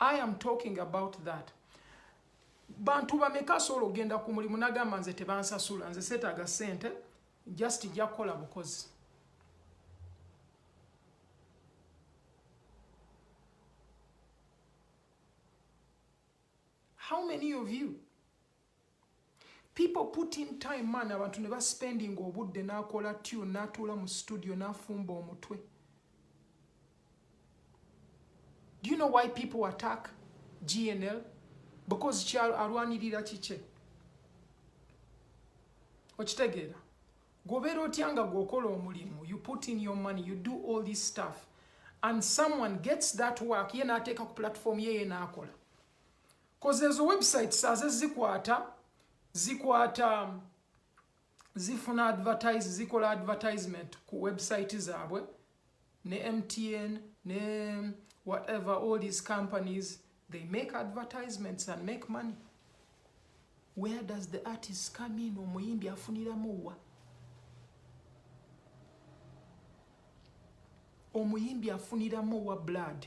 I am talking about that. Bantu bameka asobola okugenda ku mulimu nagamba nze tebansasula nze seetaaga ssente just ija kukola bukozi. How many of you people put in time man abantu ne baspending obudde nakola tune natuula mu studio nafumba omutwe do you know why people attack gnl because kyalwanirira kikye okitegeera gobeera otya nga gwokola omulimu you put in your money you do all this stuff and someone gets that work ye nateeka ku platform ye ye nakola koze ezo websites aze zikwata zikwata zifuna advertise zikola advertisement ku website zaabwe ne mtn ne whatever all these companies they make advertisements and make money where does the artist come in omuyimbi afuniramu wa omuyimbi afuniramu wa blood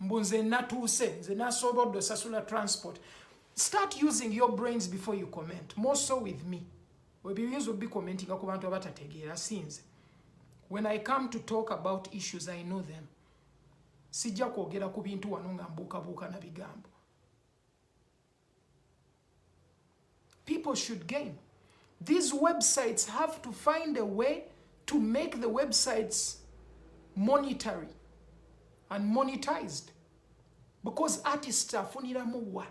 mbu nze natuuse nze nasoobodde osasula transport start using your brains before you comment more so with me webiyinza obikomentinga ku bantu abatategeera sinze when i come to talk about issues i know them sijja kwogera ku bintu wano nga mbuukabuuka na bigambo People should gain. These websites have to find a way to make the websites monetary and monetized because artists afuniramu wa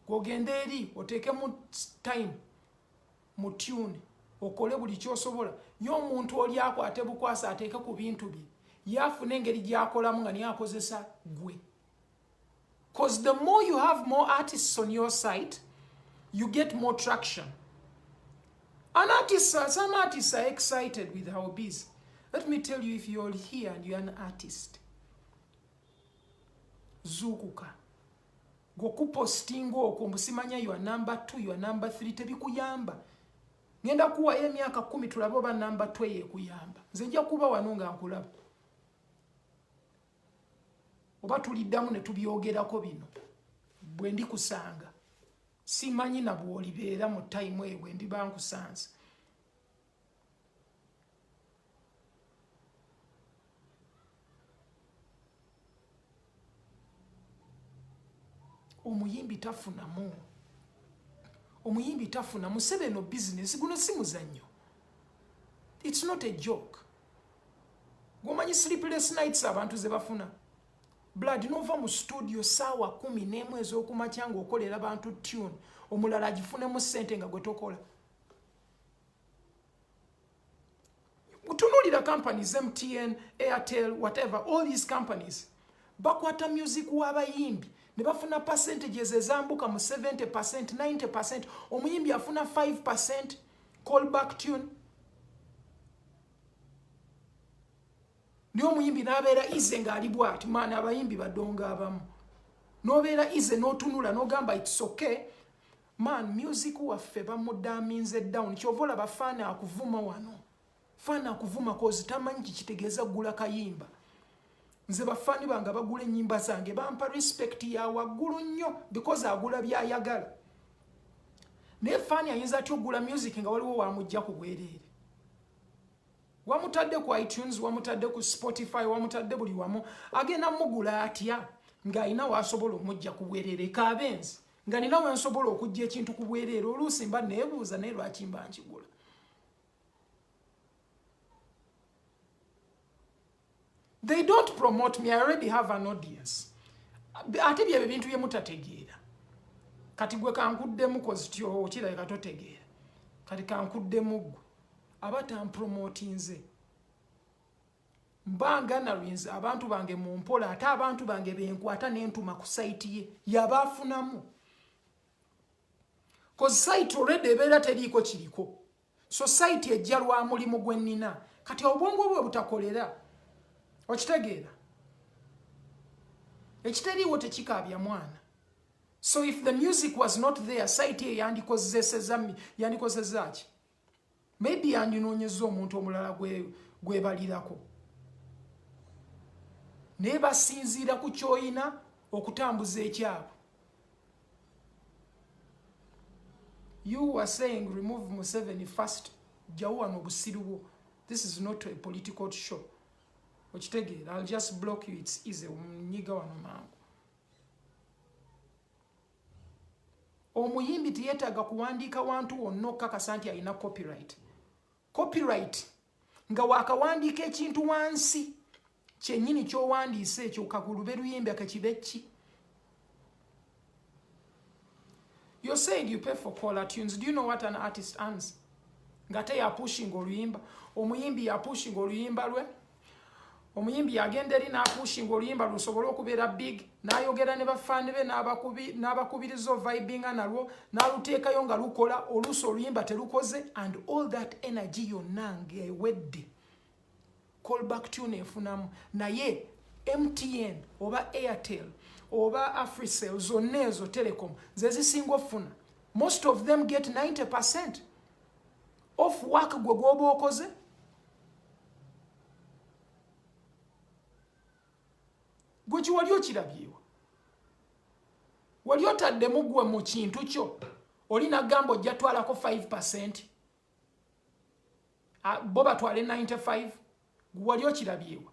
gwogenda eri oteekemu time mu tune okole buli kyosobola nyo omuntu oli akwate bukwasa ateeke ku bintu bye yaafuna engeri gyakolamu nga niye akozesa gwe Cause the more you have more artists on your site, you get more traction. An artist, some artists are excited with our biz. Let me tell you, if you're here and you're an artist, zukuka gokupostinga okwo mbusimanya your number two your number three tebikuyamba ngenda kuwayo emyaka kumi tulabe oba number two eyekuyamba nze nja kuba wano nga nkulaba oba tuliddamu ne tubyogerako bino bwe ndi kusanga simanyi na bwolibeera mu tayimu eyo bwe ndiba nkusanze omuyimbi tafunamu omuyimbi tafuna museveno bizinesi guno si muzannyo its not a joke gwomanyi sleepless nights abantu ze bafuna blood nova mu studio saawa kumi n'emu ez'okumakya ng'okolera bantu tune omulala agifunemu ssente nga gwe tokola tunuulira companies mtn airtel whatever all these companies bakwata music w'abayimbi ne bafuna percentages ezambuka mu 70 percent 90 percent omuyimbi afuna 5 percent call back tune naye omuyimbi n'abeera ize ng'ali bwati maana abayimbi badonga abamu n'obeera ize n'otunula n'ogamba itsoke man music waffe bamudaminze down kyova olaba faana akuvuma wano faana akuvuma kozi tamanyi kikitegeeza gula kayimba nze bafani bange abagula enyimba zange bampa respect ya waggulu nnyo because agula byayagala naye fani ayinza atya okugula music nga waliwo wamujja ku bwereere wamutadde ku itunes wamutadde ku spotify wamutadde buli wamu agenda mugula atya ng'alina waasobola omujja ku bwereere kabenzi nga nina wensobola okujja ekintu ku bwereere oluusi mba neebuuza naye lwaki mba nkigula They don't promote me, I already have an audience. Ate byebyo bintu bye mutategeera. Kati gwe kankuddemu kozi tyo kirabika totegeera. Kati kankuddemu gwe aba tampromote nze. Mba nganarinze abantu bange mu mpola ate abantu bange benkwata n'entuma ku sayiti ye yaba afunamu. Kozi sayiti already ebeera teriiko kiriko. society ejja lwa mulimu gwe nnina kati obwongo bwe butakolera okitegeera ekitaliiwo tekikaabya mwana so if the music was not there site eyo yandikozesezami yandikozesezaki maybe yandinoonyeza omuntu omulala gwebalirako gwe naye basinziira ku kyoyina okutambuza ekyabwe you were saying remove museveni first jjawo wano obusiru bwo this is not a political show okitegeera ill just block you its easy omunyiga wano mangu omuyimbi teyetaaga kuwandiika wantu wonna okukakasa nti alina copyright copyright nga wakawandiika ekintu wansi kyenyini kyowandiise ekyo kakulube luyimbi akakibe ki you're saying you pay for caller tunes do you know what an artist earns ngate yapushinga oluyimba omuyimbi yapushinga oluyimba lwe omuyimbi yagenda eri n'apuushinga oluyimba lusobole okubeera big n'ayogera ne bafaani be n'abakubiriza ovibinga nalwo n'aluteekayo nga lukola oluusi oluyimba terukoze and all that energy yonna ng'ewedde callback tune efunamu naye mtn oba airtel oba africell zonna ezo telecom ze zisinga okufuna most of them get 90 percent off work gwe gwoba okoze gwe kiwali okirabyewa wali otaddemu gwe mu kintu kyo oli nagamba ojja twalako 5 percent ah, bo batwale 95 gwe wali okirabyewa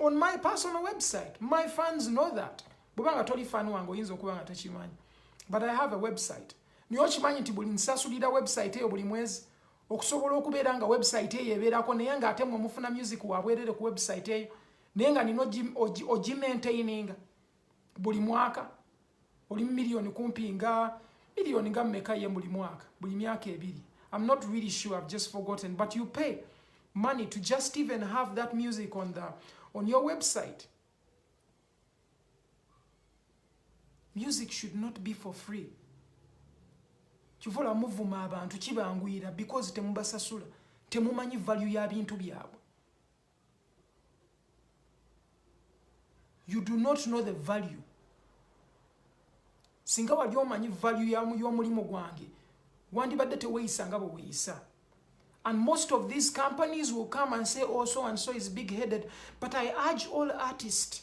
on my personal website my fans know that bweba nga toli fan wange oyinza okuba nga tokimanyi but i have a website naye okimanyi nti buli nsasulira website eyo buli mwezi okusobola okubeera nga website eyo ebeerako naye nga ate mwe mufuna music wabwerere ku website eyo naye nga nina ogimaintaininga buli mwaka oli million kumpi nga million nga meka ye buli mwaka buli myaka ebiri I'm not really sure I've just forgotten but you pay money to just even have that music on the on your website music should not be for free kivula muvuma abantu kibanguyira because temubasasula temumanyi value ya bintu byabwe you do not know the value singa wali omanyi value y'omulimu gwange wandibadde teweyisa nga bweweyisa and most of these companies will come and say oh so and so is big headed but i urge all artists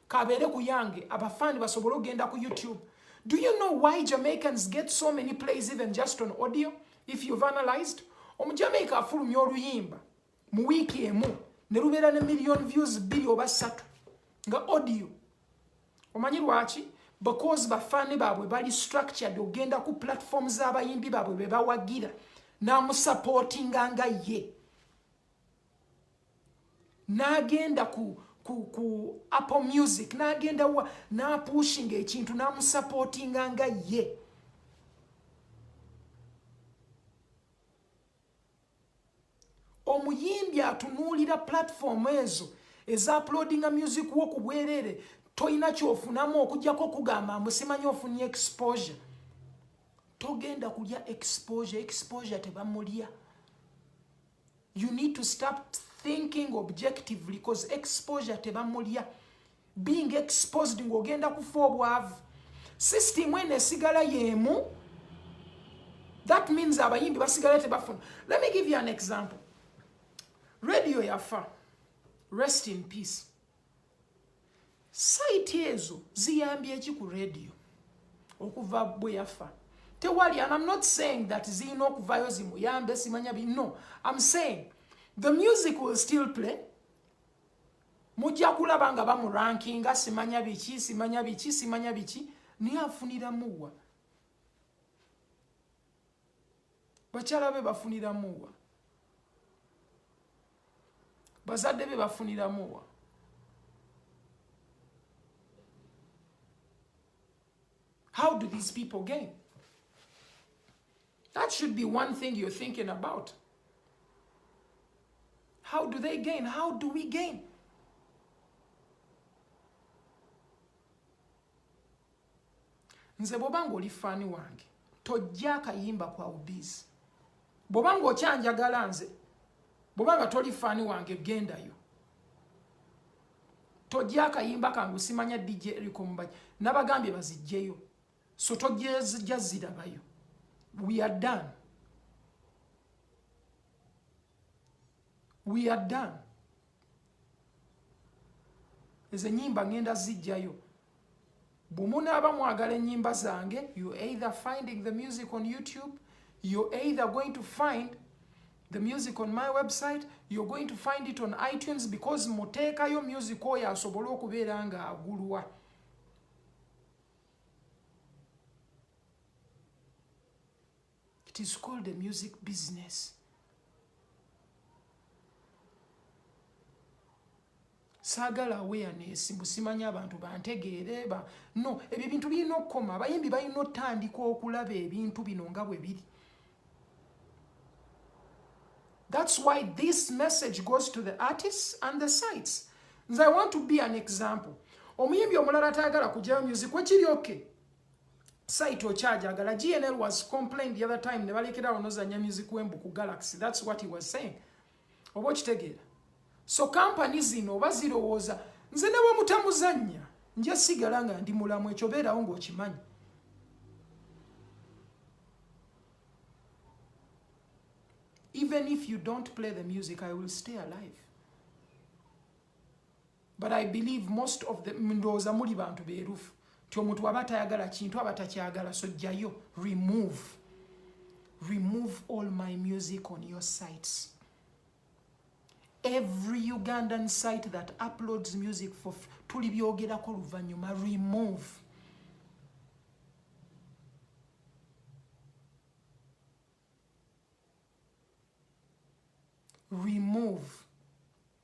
kabeere ku yange abafaani basobole okugenda ku youtube do you know why jamaicans get so many plays even just on audio if you've analyzed omujamaica afulumya oluyimba mu wiiki emu ne lubeera ne million views bbiri oba ssatu nga audio omanyi lwaki because bafaani baabwe bali structured ogenda ku platform z'abayimbi baabwe be bawagira n'amusapootinga nga ye n'agenda ku ku, ku apple music n'agenda wa n'apuushinga ekintu n'amusapootinga nga ye omuyimbi atunuulira pulatifomu ezo ezaapulodinga music wo ku bwereere tolina kyofunamu okujjako okugamba amusimanyi ofunye exposure togenda kulya exposure exposure tebamulya you need to stop thinking objectively cause exposure tebamulya being exposed ng'ogenda kufa obwavu system eno esigala yeemu that means abayimbi basigala tebafuna let me give you an example radio yafa rest in peace sayiti ezo ziyambye eki ku radio okuva bwe yafa tewali and am not saying that zirina okuvayo zimuyambe simanya bi no am saying the music will still play mujja kulaba nga bamurankinga simanya biki simanya biki simanya biki naye afuniramuwa bakyala be bafuniramuwa bazadde be bafuniramuwa how do these people gain that should be one thing you're thinking about how do they gain how do we gain nze bwoba nga oli faani wange tojja akayimba kwa ubizi bwoba nga okyanjagala nze bwoba nga toli faani wange gendayo tojja akayimba kange simanya dj eriko mubaji nabagambye bazijjeyo so tojja zirabayo we are done we are done nze nyimba ngenda zijjayo bumunaaba mwagala enyimba zange you either finding the music on youtube you either going to find the music on my website you're going to find it on itunes because muteekayo music oyo asobole okubeera nga agulwa It is called a music business. saagala awareness mbu simanya abantu bantegeere ba no ebyo ebintu birina okukoma abayimbi balina otandika okulaba ebintu bino nga bwe biri thats why this message goes to the artists and the sites nze i want to be an example omuyimbi omulala atayagala kujayo music wekiri oke site okyajagala GNL was complained the other time ne balekera awo nozanya music wembu ku Galaxy that's what he was saying oba okitegeera so company zino oba zirowooza nze ne bwe mutamuzannya nja sigala nga ndi mulamu ekyo beerawo ng'okimanyi even if you don't play the music i will stay alive but i believe most of the ndowooza muli bantu beerufu nti omuntu waba tayagala kintu aba takyagala so jjayo remove remove all my music on your sites every ugandan site that uploads music for tuli byogerako luvannyuma remove remove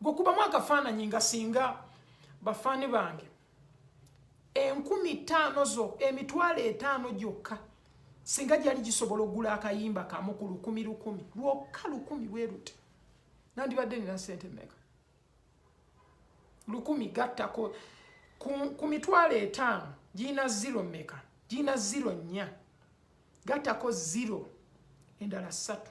gwe kubamu akafaananyi nga singa bafaani bange enkumi ttaano zo emitwalo etaano gyokka singa gyali gisobola okugula akayimba kamu ku lukumi lukumi lwokka lukumi bwerute nandibadde nina sente meka lukumi gattako ku mitwalo etaano girina ziro meka girina ziro nnya gattako ziro endala ssatu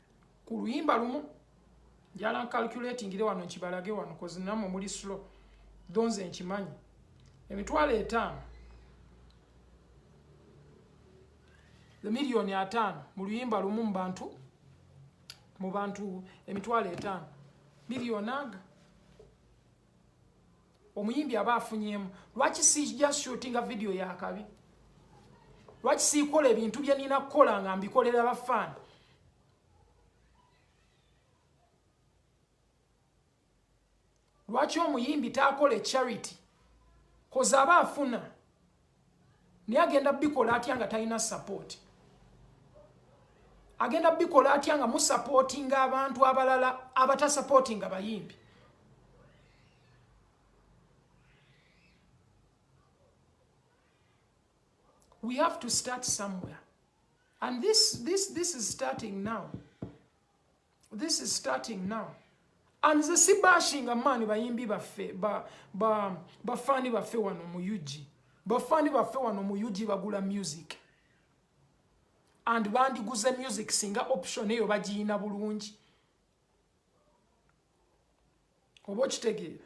ku luyimba lumu njala ncalculatingire wano nkibalage wano kozinamwe muli slow donze nkimanyi emitwalo etaano emiliyoni ataano mu luyimba lumu mubantu mu bantu emitwalo etaano miliyoni aga omuyimbi aba afunyemu lwaki sija shootinga video yakabi lwaki siikola ebintu bye nina kukola nga mbikolera bafaana lwaki omuyimbi taakola charity koze aba afuna naye agenda bikola atya nga talina support agenda bikola atya nga musupportinga abantu abalala abatasupportinga bayimbi we have to start somewhere and this, this, this is starting now This is starting now. And the si bashing a man bayimbi baffe ba ba bafani baffe wano mu UG. Bafani baffe wano mu UG bagula music. And bandi guze music singa option eyo bagiyina bulungi. Obo kitegeera.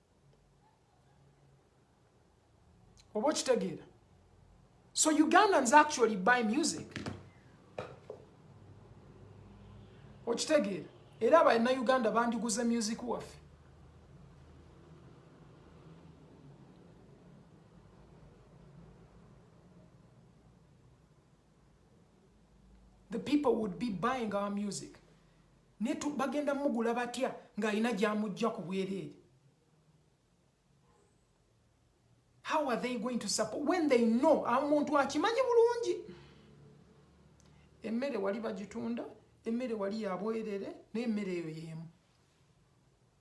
oba okitegeera so ugandans actually buy music okitegeera era abalina uganda bandiguze music waffe the people would be buying our music ne bagenda mugula batya ng'alina gyamujja ku bwereere how are they going to support when they know amuntu akimanyi bulungi emmere wali bagitunda emmere wali yabwerere naye emmere eyo yeemu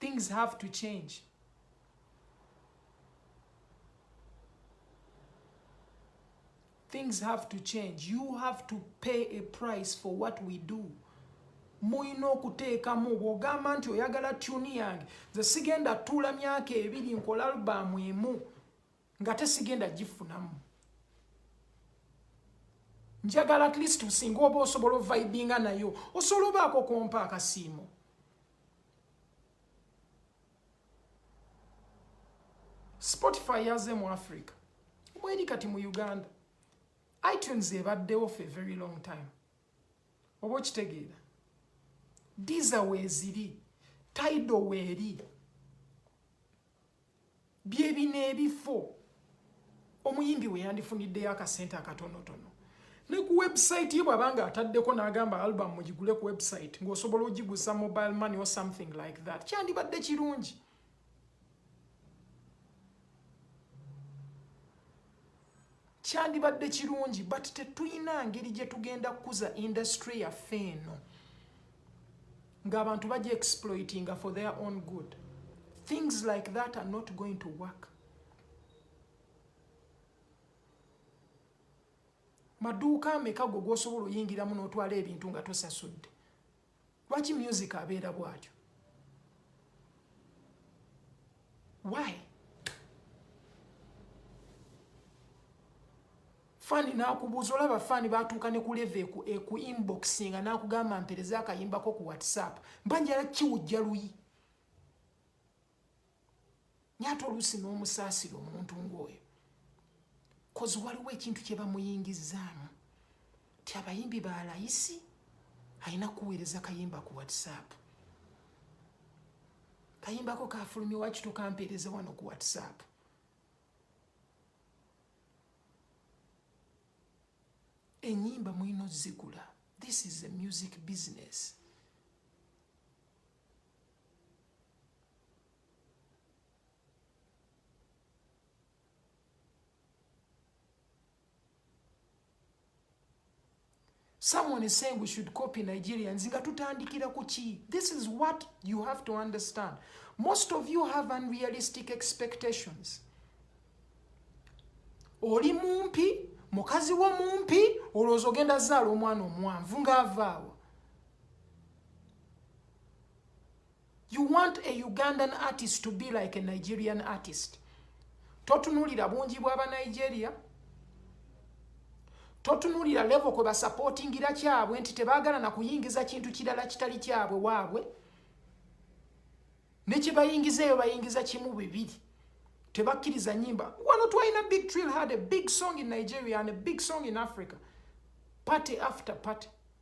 Things have to change. Things have to change. You have to pay a price for what we do. mulina okuteekamu bw'ogamba nti oyagala tuni yange nze sigenda tuula myaka ebiri nkola albaamu emu nga tesigenda gifunamu njagala at least singa oba osobola ovibinga nayo osobola obaako kompa akasiimo spotify yaze mu africa mweri kati mu uganda itunes ebaddewo fe very long time oba okitegeera diza weeziri taido weeri byebino ebifo omuyimbi we yandifuniddeyo akasente akatonotono ne ku website ye bwaba nga ataddeko n'agamba album mugigule ku website ng'osobola ogiguza mobile money or something like that kyandibadde kirungi kyandibadde kirungi but tetulina ngeri gye tugenda kukuza industry yaffe eno ng'abantu bajja exploitinga for their own good things like that are not going to work maduuka ameka gwe gwosobola oyingiramu n'otwala ebintu nga tosasudde lwaki music abeera bwatyo why fani nakubuuza olaba fani batuuka ne kuleva eku eh, inboxinga nakugamba mpereza akayimbako ku whatsapp mba njala kiwujja luyi nyata oluusi n'omusaasira omuntu ng'oyo kozi waliwo ekintu kye bamuyingizzaamu ti abayimbi ba layisi alina kuweereza kayimba ku whatsapp kayimbako kafulumye wakito kampeereza wano ku whatsapp enyimba mulina ozigula this is a music business someone is saying we should copy nigerians nga tutandikira ku ki this is what you have to understand most of you have unrealistic expectations oli mumpi mukazi wo mumpi olowooza ogenda zaala omwana omuwanvu ng'avaawo You want a Ugandan artist to be like a Nigerian artist. Totunulira bungi bwa ba Nigeria. Totunulira level kwe ba supporting ira kyabwe nti tebagala na kuyingiza kintu kirala kitali kyabwe wabwe. Ne kibayingiza yo bayingiza kimu bibiri. Tebakiriza nyimba. Wano twaina Big Trill had a big song in Nigeria and a big song in Africa. Party after party.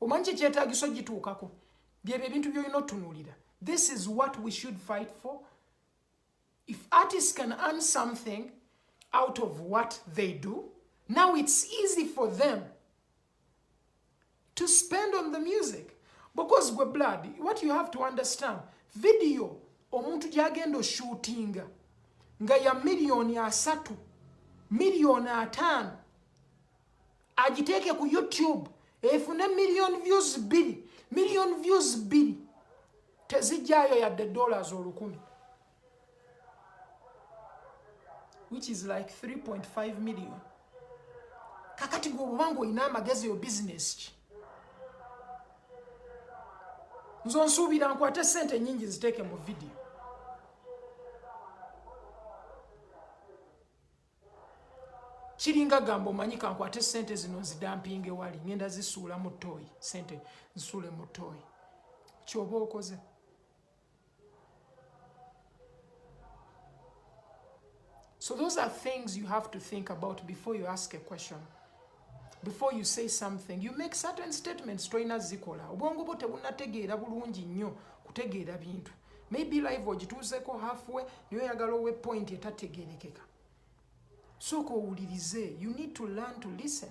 omanyi kyekyetagisa ogituukako byebyo ebintu byolina otunuulira this is what we should fight for if artists can earn something out of what they do now it's easy for them to spend on the music because gwe blood what you have to understand video omuntu gyagenda oshootinga nga ya miliyoni asatu miliyoni ataano agiteeke ku youtube efune miliyoni views bbiri miliyoni views bbiri tezijjayo yadde dollars olukumi which is like 3.5 million kakati gwe obanga olina amagezi yo business ki nze onsuubira nkwate sente nyingi ziteeke mu vidiyo kiringa gamba omanyi kankwate sente zino nzidampinga ewali ngenda zisuula mu toyi sente nsuule mu toyi kyoba okoze So those are things you have to think about before you ask a question. Before you say something, you make certain statements toyina zikola. Obwongo bwo tebunategeera bulungi nnyo kutegeera bintu. Maybe life ogituuzeko halfway niyo oyagala owe point etategeerekeka. Sooka owulirize. You need to learn to listen.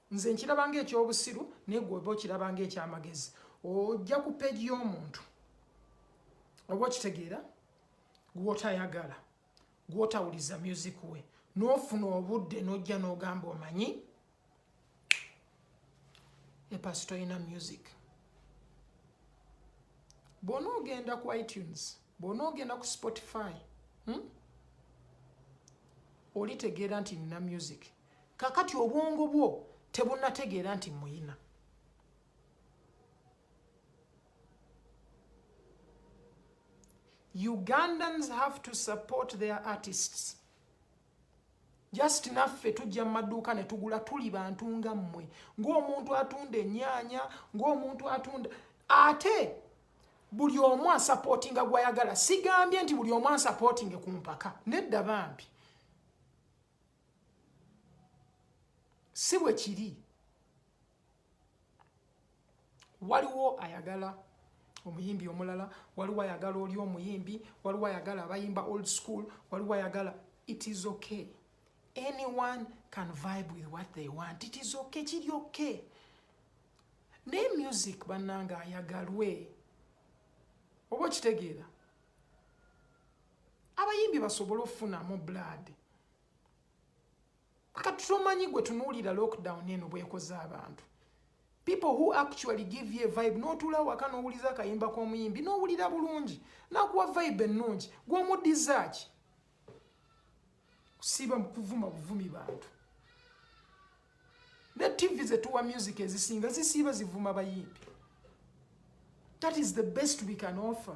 nze nkiraba nga ekyobusiru naye gwe oba okiraba nga ekyamagezi ojja ku peegi y'omuntu oba okitegeera gwotayagala gwotawuliza music we n'ofuna obudde n'ojja n'ogamba omanyi epasi tolina music bwona ogenda ku itunes bwona ogenda ku spotify hmm? olitegeera nti nina music kakati obwongo bwo tebunategeera nti muyina ugandans have to support their artists just naffe tujja mu maduuka ne tugula tuli bantu nga mmwe ng'omuntu atunda enyaanya ng'omuntu atunda ate buli omu asapootinga gwayagala sigambye nti buli omu asapootinge ku mpaka nedda bambi si bwe kiri waliwo ayagala omuyimbi omulala waliwo ayagala oli omuyimbi waliwo ayagala abayimba old school waliwo ayagala it is okay anyone can vibe with what they want it is okay kiri okay naye music bannanga ayagalwe oba okitegeera abayimbi basobole okufunamu blood kati tomanyi gwe tunuulira lockdown eno bwekoze abantu people who actually give you a vibe n'otuula waka n'owuliza akayimba k'omuyimbi n'owulira bulungi nakuwa vibe ennungi gw'omuddiza ki kusiiba kuvuma buvumi bantu ne tv zetuwa music ezisinga zisiiba zivuma bayimbi that is the best we can offer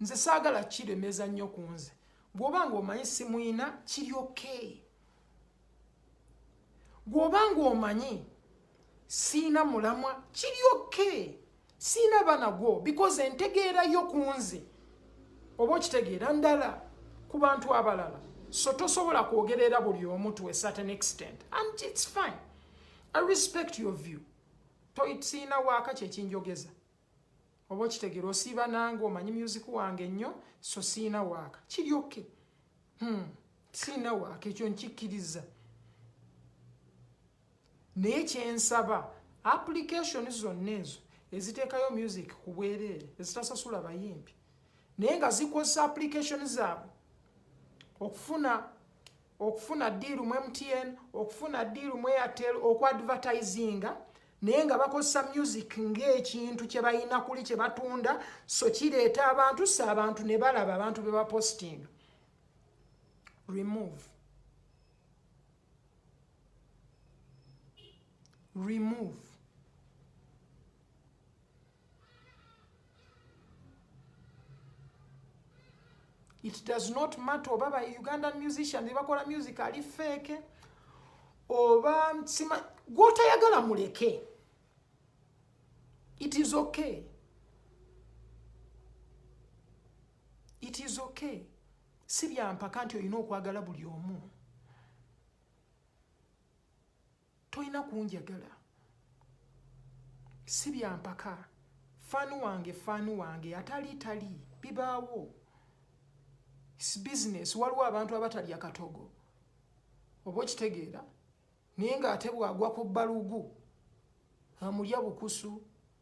nze saagala kiremeza nnyo ku nze gwoba nga omanyi simuyina kiri okay gwoba nga omanyi siina mulamwa kiri okay siina bana gwo because entegeera yo ku nze oba okitegeera ndala ku bantu abalala so tosobola kwogerera buli omu to a certain extent and it's fine i respect your view toyisiina waaka kyekinjogeza oba okitegera osiiba nange omanyi music wange nnyo so siina waaka kiri oke hmm. siina waaka ekyo nkikkiriza naye kyensaba application zonna ezo eziteekayo music ku bwereere ezitasasula bayimbi naye nga zikozesa application zaabwe okufuna okufuna diiru mu mtn okufuna diiru mu airtel okuadvertisinga naye nga bakozesa music ng'ekintu kye balina kuli kye batunda so kireeta abantu si abantu ne balaba abantu be bapositinga remove remove it does not matter oba ba ugandan musician nebakola music ali feke oba sima gwotayagala muleke it is okay it is okay si byampaka nti olina okwagala buli omu tolina kunjagala si byampaka faani wange faani wange atali tali bibaawo business waliwo abantu abatalya katogo oba okitegeera naye ng'ate bwagwa ku balugu amulya bukusu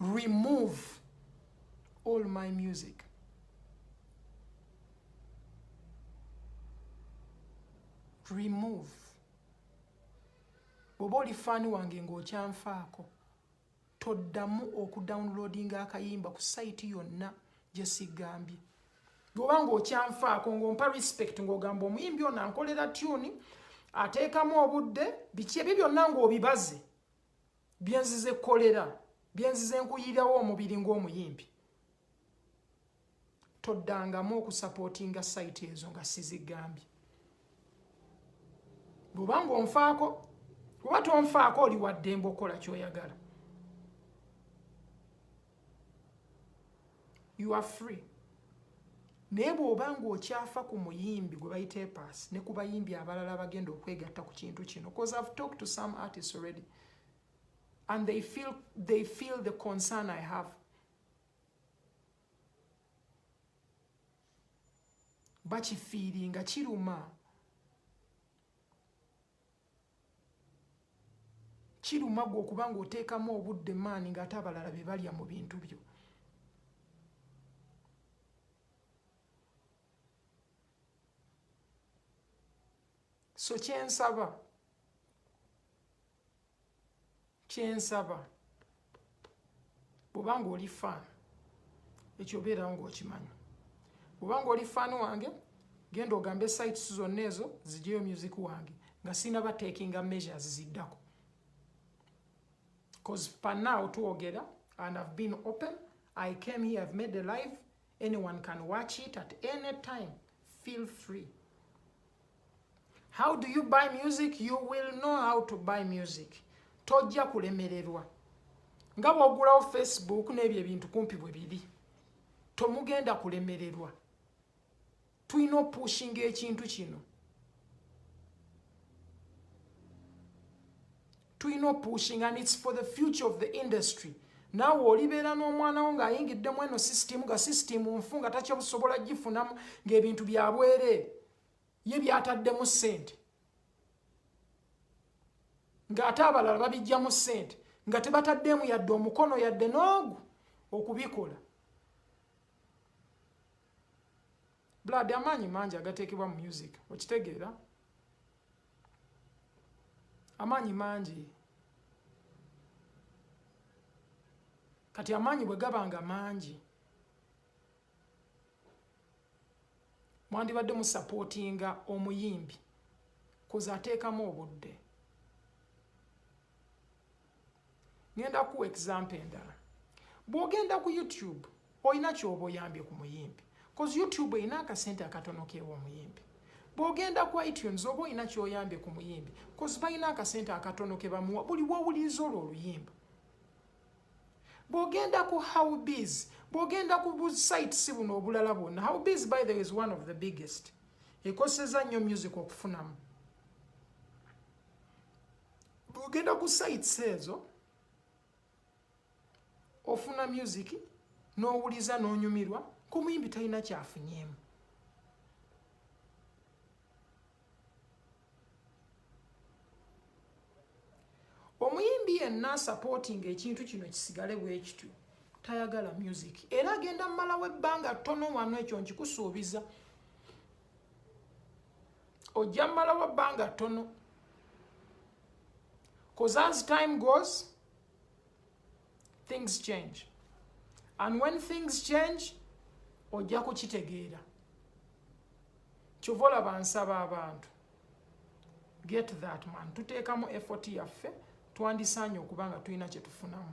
remove all my music remove bwoba oli faani wange ng'okyanfaako toddamu okudownloadinga akayimba ku sayiti yonna gye sigambye bwoba ng'okyanfaako ng'ompa respect ng'ogamba omuyimbi ono ankolera tyuni ateekamu obudde biki ebyo byonna ng'obibaze byenzize kolera byenzize nkuyirawo omubiri ng'omuyimbi toddangamu okusapootinga sayiti ezo nga sizigambye bw'oba ng'onfaako oba tonfaako oli waddembe okukola kyoyagala you are free naye bw'oba ng'okyafa ku muyimbi gwe bayita epaasi ne ku bayimbi abalala bagenda okwegatta ku kintu kino bcause ive talked to some artists already and they feel, they feel the concern i have bakifiiringa kiruma kiruma gwe okuba nga oteekamu obudde maani ng'ate abalala be balya mu bintu byo so kyensaba kyensaba bwoba nga oli fan ekyo obeerawo ngaokimanyi bwoba nga oli fan wange genda ogambe sites zonna ezo zijeyo music wange nga sinaba takinga measures ziddako bcause panaw twogera and ive been open i came here ive made a live Anyone can watch it at any time. Feel free. How do you buy music? You will know how to buy music. Tojja kulemererwa. Nga bw'ogulawo Facebook n'ebyo ebintu kumpi bwe biri. Tomugenda kulemererwa. tulina opushinga ekintu kino tulina opushinga and its for the future of the industry naawe olibeera n'omwana wo ng'ayingidde mu eno sisitimu nga sisitimu nfu nga takyabusobola gifunamu ng'ebintu byabwereere ye byataddemu ssente ng'ate abalala babijjamu ssente nga tebataddeemu yadde omukono yadde n'ogu okubikola blood amaanyi mangi agateekebwa mu music okitegeera amaanyi mangi kati amaanyi bwe gaba nga mangi mwandibadde musapootinga omuyimbi kuze ateekamu obudde ngenda kuwa example endala bwogenda ku youtube olina kyoba oyambye ku muyimbi bcause youtube erina akasente akatono kewa omuyimbi bwogenda ku itunes oba olina kyoyambye ku muyimbi bcause balina akasente akatono kebamuwa buli wowuliriza olwo oluyimba bwogenda ku howbs bwogenda ku busites buno obulala bwonna howbs by the is one of the biggest ekoseza nnyo music okufunamu bwogenda ku sites ezo ofuna music n'owuliza n'onyumirwa kumuyimbi talina kyafunyemu omuyimbi yenna asapootinga ekintu kino kisigale bwekityo tayagala music era agenda mumalawo ebbanga ttono wano ekyo nkikusuubiza ojja mmalawo bbanga ttono bcause as time goes things change and when things change ojja kukitegeera kyova olaba nsaba abantu get that man tuteekamu effort yaffe twandisaanye okuba nga tulina kye tufunamu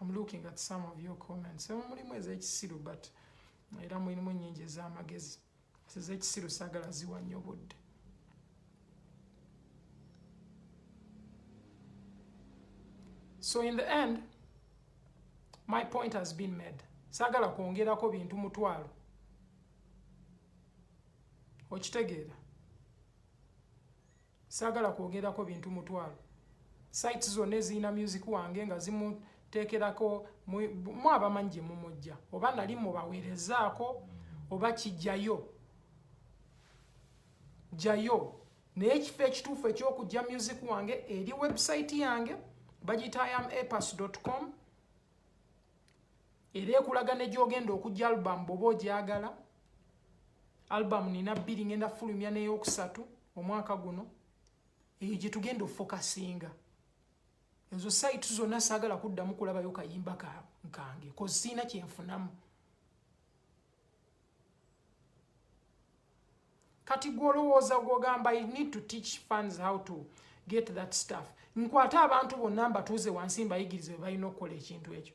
I'm looking at some of your comments emu mulimu ez'ekisiru but era mulimu ennyingi ez'amagezi ez'ekisiru saagala ziwa nnyo budde so in the end my point has been made saagala kwongerako bintu mutwalo okitegeera Saagala kwogerako bintu mutwalo. Sites zonna ezirina music wange nga zimuteekerako mu abamanyi gye mumujja oba nali mubaweerezaako oba kijjayo jjayo naye ekifo ekituufu ekyokujja music wange eri website yange bagita am apas com era ekulaga ne gyogenda okujja albamu bwoba ogyagala albamu nina bbiri ngenda fulumya neyokusatu omwaka guno eyo gyetugenda ofokasinga ezo site zonna saagala kuddamu kulabayo kayimba kange koziina kyenfunamu kati gwolowooza gwogamba i need to teach fans how to get that stuff nkwate abantu bonna mbatuuze wansi mbayigiriza we balina okukola ekintu ekyo